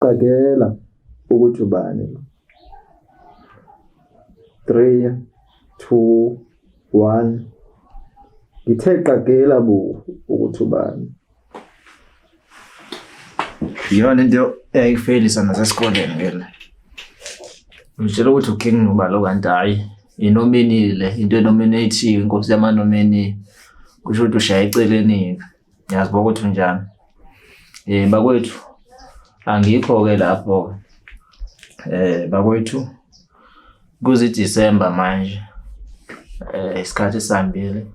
Qagela ukuthi ubani lo. 3 2 1 Ngithe qagela bo ukuthi ubani. Iyona into eyayifelisa nasesikoleni ngena. Ngitshela ukuthi uking nobalo kanti hayi inominile into enominate inkosi yamanomini kusho ukuthi ushaye eceleni-ke Ngiyazi ukuthi unjani. Eh bakwethu angikho ke lapho. Eh bakwethu kuzi December manje. Eh isikhathi sambile.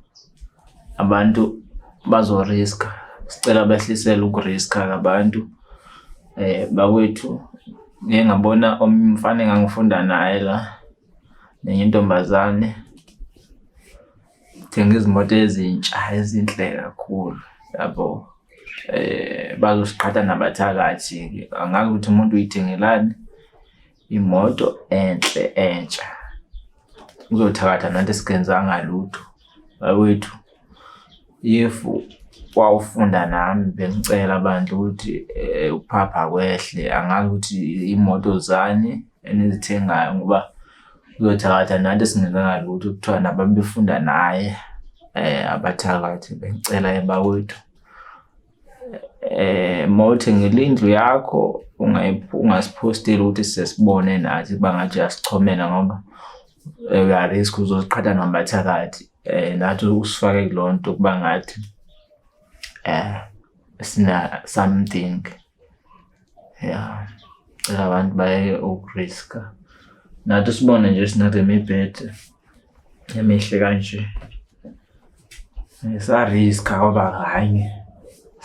Abantu bazo risk. Sicela behlisele ukuriska kabantu. Eh bakwethu ngeke ngabona umfana engangifunda naye la nenye intombazane Thenga izimoto ezintsha ezinhle kakhulu yabo eh bazosiqhatha nabathakathi angazi ukuthi umuntu uyithengelani imoto enhle entsha uzothakatha nanti sikenzanga lutho bakwethu if wawufunda nami bengicela abantu ukuthi eh, ukuphapha kwehle angazi ukuthi imoto zani enizithengayo ngoba uyothakatha nathi singenzanga lutho kuthiwa nabantu befunda naye eh abathakathi bengicela ebakwethu eh mawuthi ngilindlu yakho ungasiphosteli ukuthi sesibone nathi bangathi asichomela ngoba eh, uyarisk uzoziqhatha nabathakathi um eh, nathi usifake kulo nto ukuba ngathi um sina something ya cela abantu bayeke ukuriska nathi sibone nje sinale mibhede emihle kanje ngisariska ngoba kanye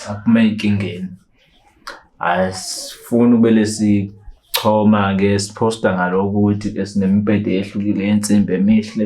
saphuma enkingeni asifuni ubele sichoma-ke siphosta ngaloku ukuthi sinemibhede ehlukile yensimbi emihle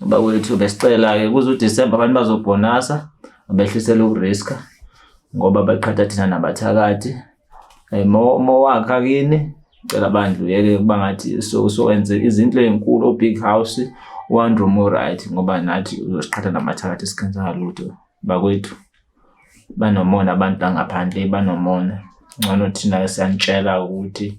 Bakwethu besicela-ke kuze uDisemba abantu bazobhonasa abehlisele ukuriska ngoba baqhatha thina nabathakathi um mowakha kini cela bandla uyeke kuba ngathi sowenze izinto ey'nkulu o-big house one room right ngoba nathi uzosiqhatha namathakathi sikhenza lutho bakwethu banomona abantu bangaphandle banomona ngcono thina siyanitshela ukuthi